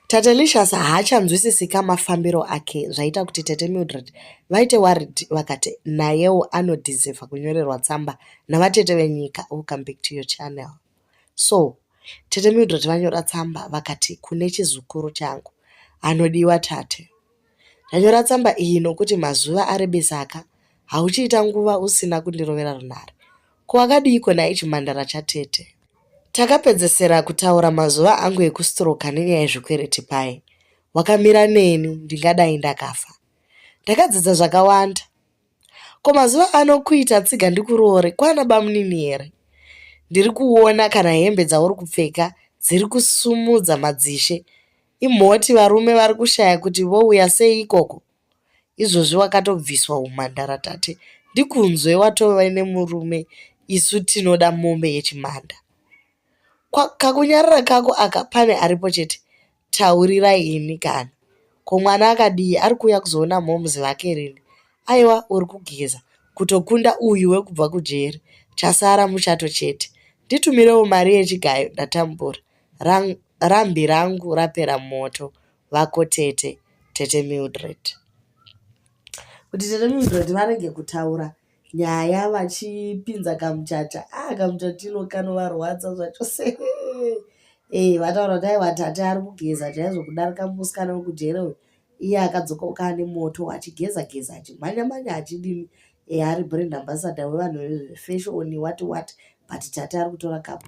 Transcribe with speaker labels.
Speaker 1: Tatelicious haachanzwisisika mafambiro ake zvaita kuti tete Mildred vaite worried vakati nayewo anodhiziva kunyorerwa tsamba navatete venyika welcome back to your channel so tete Mildred vanyora tsamba vakati kune chizukuru changu anodiwa tate Ndanyora tsamba iyi nokuti mazuva arebesaka hauchiita nguva usina kundirovera runhare. Ko wakadiiko nhai chimhandara chatete? Takapedzesera kutaura mazuva angu ekustroka nenyaya yezvikwereti paye. Wakamira neni ndingadai ndakafa. Ndakadzidza zvakawanda. Ko mazuva ano kuita tsiga ndikuroore kwana bamunini here? Ndiri kuona kana hembe dzauri kupfeka dziri kusumudza madzishe Imhoti varume vari kushaya kuti vouya sei ikoko. Izvozvi wakatobviswa humhandara tate ndikunzwe watove nemurume isu tinoda mombe yechimhanda. Kwa, kakunyarara kako aka pane aripo chete taurirai ini kana. Ko mwana akadii ari kuuya kuzoona moms vake rini? Aiwa uri kugeza kutokunda uyu wekubva kujeri chasara muchato chete. Nditumirewo mari yechigayo ndatambura. Rang, rambi rangu rapera moto vako tete tete mildred kuti tete mildred varege kutaura nyaya vachipinza kamuchacha ah kamuchatino kanovarwadza zvacho se e vataura kuti aiwa tate ari kugeza chaizvo kudarika musikana wekujere uyu iye akadzokoka ane moto achigeza geza achimhanya mhanya achidini eya ari brand ambassador wevanhu vefashoni what what but tati ari kutora kapu